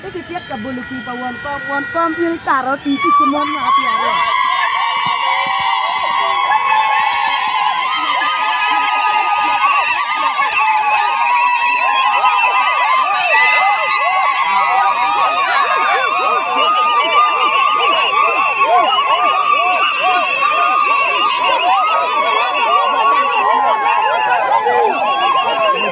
Pe kityek ka bolo pii pa won kom, won kom bino ikato oti tic ki mon mwaka pyera aryo.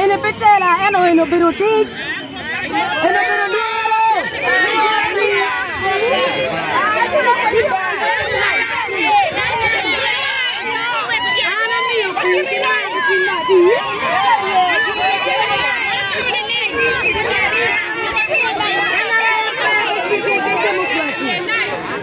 Eni pe tela ento eni obedo otic. Eni obedo lworo.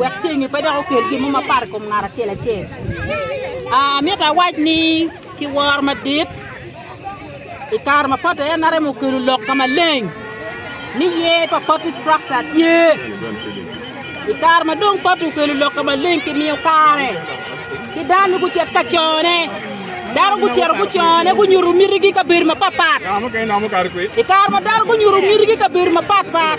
wek ceng-ngi pe dok okel gin mo mapat i kom ngat acel acel. Amito awac ni ki woro madit i kare mapat aye NRM okelo lok ka maleng ni ye pa party structure tye i kare ma dong party okelo lok ka maleng ki miyo kare ki dano gucet ka cone dano gucero gucone gunyuto mitigi kabedo mapatpat i kare ma dano gunyuto mitigi kabedo mapatpat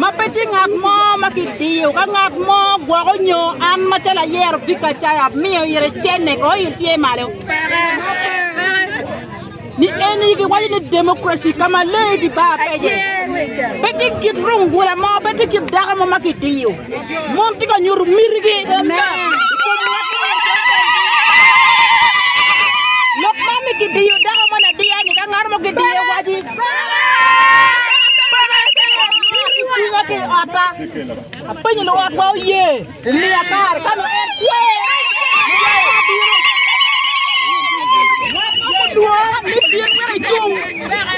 ma pe tye ngat mo ma kidiyo ka ngat mo gwoko nyo an macalo ayero Vic Acaya amiyo ire cenne ko il tye malo ni en yigi waco ni democracy ka ma leyo di bar pece pe tye kit rungula mo pe tye kit dako mo ma kidiyo mon tye ka nyuto mitigi lok ma ni kidiyo dako mo ladiya ni ka ngat mo kidiye waci Tinga ki i otta. Apenyo luot wa oye. Miya kar ka no en kwe. Wat mo mudwa ni pien mene cung.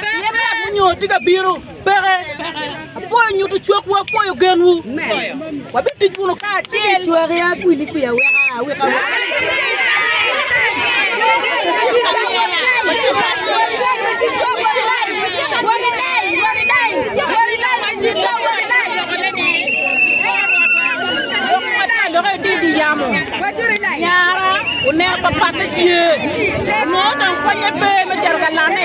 Pien wat munyo tiga biro. Peke. Apwoyo nyuto cwakwu, apwoyo genwu. Wabitic wunu kacel. Cwaki a kwili kwi aweka aweka. Loke di di yamo. Nyara uneko papat tye. Mo tong konye pe me cero ka lane.